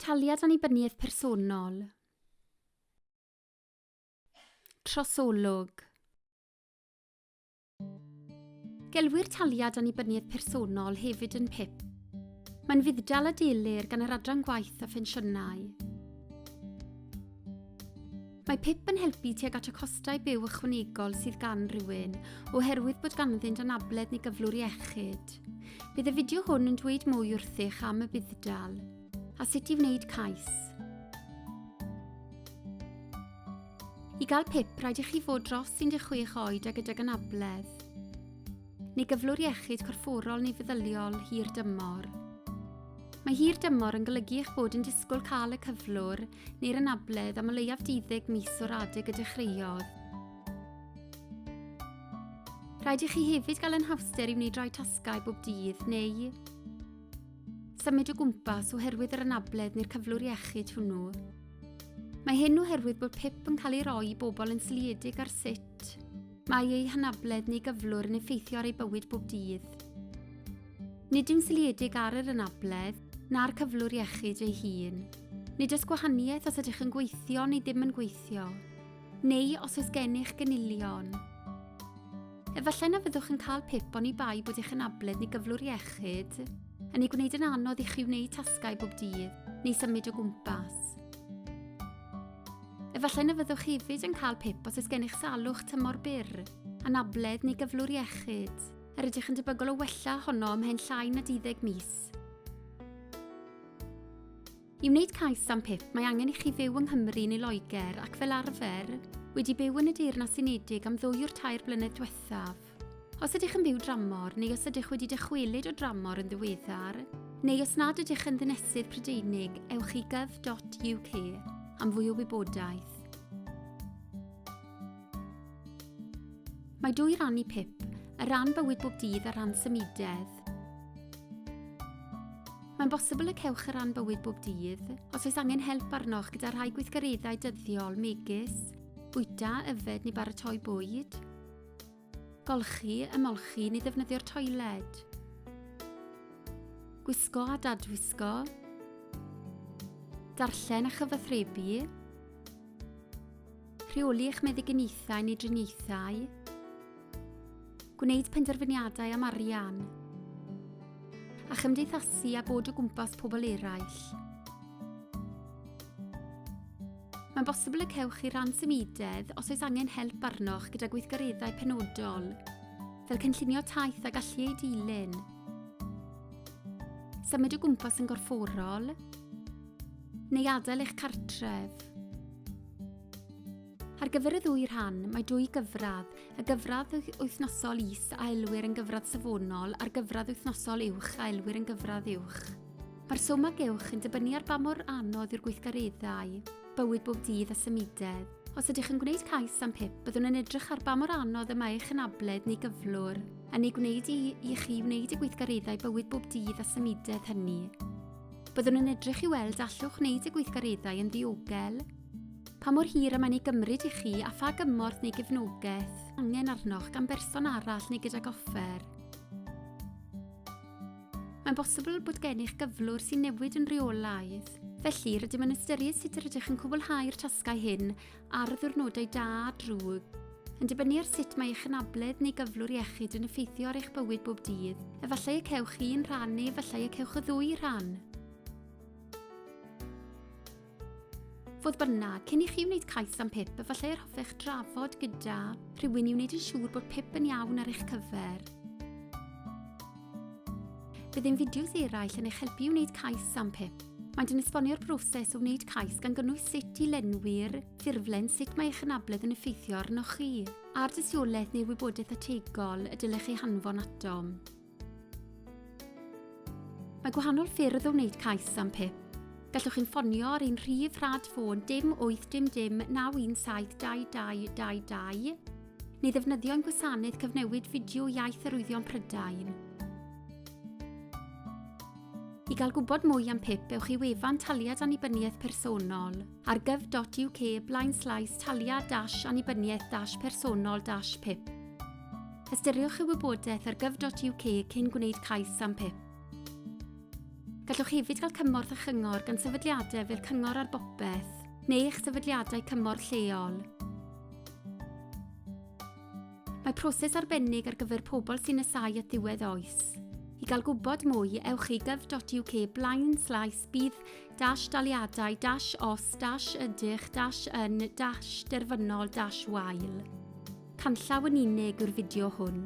Taliad annibyniaeth personol. Trosolwg. Gelwir taliad annibyniaeth personol hefyd yn PIP. Mae'n fudd-dal a delir gan yr Adran Gwaith a Phensiynau. Mae pip yn helpu tuag at y costau byw ychwanegol sydd gan rywun, oherwydd bod ganddynt anabledd neu gyflwr iechyd. Bydd y fideo hwn yn dweud mwy wrthych am y budd-dal, a sut i wneud cais. I gael pip, rhaid i chi fod dros 16 oed a gydag anabledd, neu gyflwr iechyd corfforol neu feddyliol hir dymor. Mae hir dymor yn golygu eich bod yn disgwyl cael y cyflwr neu'r anabledd am o leiaf 12 mis o'r adeg y dechreuodd. Rhaid i chi hefyd gael yn hawster i wneud rhai tasgau bob dydd neu symud o gwmpas oherwydd yr anabledd neu'r cyflwr iechyd hwnnw. Mae hyn oherwydd bod PIP yn cael ei roi i bobl yn sliedig ar sut mae eu hanabledd neu gyflwr yn effeithio ar ei bywyd bob dydd. Nid yn seliedig ar yr anabledd na'r cyflwr iechyd ei hun. Nid oes gwahaniaeth os ydych yn gweithio neu ddim yn gweithio, neu os oes gennych gynilion. Efallai na fyddwch yn cael pip oni bai bod eich anabledd neu gyflwr iechyd yn ei gwneud yn anodd i chi wneud tasgau bob dydd neu symud o gwmpas. Efallai na fyddwch hefyd yn cael pip os oes gennych salwch tymor byr, anabledd neu gyflwr iechyd. a rydych yn debygol o wella honno ymhen llai na 12 mis. I wneud cais am PIP, mae angen i chi fyw yng Nghymru neu Loegr ac fel arfer, wedi byw yn y Deyrnas Unedig am ddwy o'r tair blynedd diwethaf. Os ydych yn byw dramor neu os ydych wedi dychwelyd o dramor yn ddiweddar, neu os nad ydych yn ddynesydd Prydeinig, ewch i gov.uk am fwy o wybodaeth. Mae dwy ran i pip, y ran bywyd bob dydd a ran symudedd. Mae'n bosibl y cewch y ran bywyd bob dydd os oes angen help arnoch gyda rhai gweithgareddau dyddiol megis bwyta, yfed neu baratoi bwyd. Golchi, ymolchi neu ddefnyddio'r toiled. Gwisgo a dadwisgo. Darllen a chyfathrebu. Rheoli eich meddyginiaethau neu driniaethau. Gwneud penderfyniadau am arian. A chymdeithasu a bod o gwmpas pobl eraill. Mae'n bosibl y cewch chi ran symudedd os oes angen help arnoch gyda gweithgareddau penodol, fel cynllunio taith a gallu ei dilyn, symud o gwmpas yn gorfforol, neu adael eich cartref. Ar gyfer y ddwy rhan, mae dwy gyfradd, y gyfradd wythnosol is a elwir yn gyfradd safonol a'r gyfradd wythnosol uwch a elwir yn gyfradd uwch. Mae'r swm a gewch yn dibynnu ar ba mor anodd yw'r gweithgareddau, bywyd bob dydd a symudedd. Os ydych yn gwneud cais am PIP, byddwn yn edrych ar ba mor anodd y mae eich anabledd neu gyflwr yn ei gwneud i, i chi wneud y gweithgareddau bywyd bob dydd a symudedd hynny. Byddwn yn edrych i weld allwch wneud y gweithgareddau yn ddiogel, pa mor hir y mae'n ei gymryd i chi a pha gymorth neu gefnogaeth angen arnoch gan berson arall neu gydag offer. Mae'n bosibl bod gennych gyflwr sy'n newid yn rheolaidd. Felly, rydym yn ystyried sut yr ydych yn cwblhau'r tasgau hyn ar ddiwrnodau da a drwg, yn dibynnu ar sut mae eich anabledd neu gyflwr iechyd yn effeithio ar eich bywyd bob dydd. Efallai y cewch un rhan neu efallai y cewch y ddwy rhan. Fodd bynnag, cyn i chi wneud cais am pip, efallai yr hoffech drafod gyda rhywun i wneud yn siŵr bod pip yn iawn ar eich cyfer. Bydd ein fideos eraill yn eich helpu i wneud cais am pip. Mae'n yn esbonio'r broses o wneud cais gan gynnwys sut i lenwi'r ffurflen, sut mae eich anabledd yn effeithio arnoch chi, a'r dystiolaeth neu wybodaeth ategol y dylech ei hanfon atom. Mae gwahanol ffyrdd o wneud cais am PIP. Gallwch chi'n ffonio ar ein rhif rhad ffôn dim 8 dim dim 9172222 neu ddefnyddio'n gwasanaeth cyfnewid fideo iaith arwyddion Prydain. I gael gwybod mwy am PIP, ewch i wefan Taliad Annibyniaeth Personol. ar gov.uk blaenslais taliad dash annibyniaeth dash personol dash pip. Ystyriwch y wybodaeth ar gov.uk cyn gwneud cais am pip. Gallwch hefyd gael cymorth a chyngor gan sefydliadau fel Cyngor ar Bopeth neu eich sefydliadau cymorth lleol. Mae proses arbennig ar gyfer pobl sy'n nesau at ddiwedd oes. I gael gwybod mwy, ewch i gov.uk blaen slaes bydd dash daliadau dash os dash ydych dash yn dash derfynol dash wael. Canllaw yn unig yw'r fideo hwn.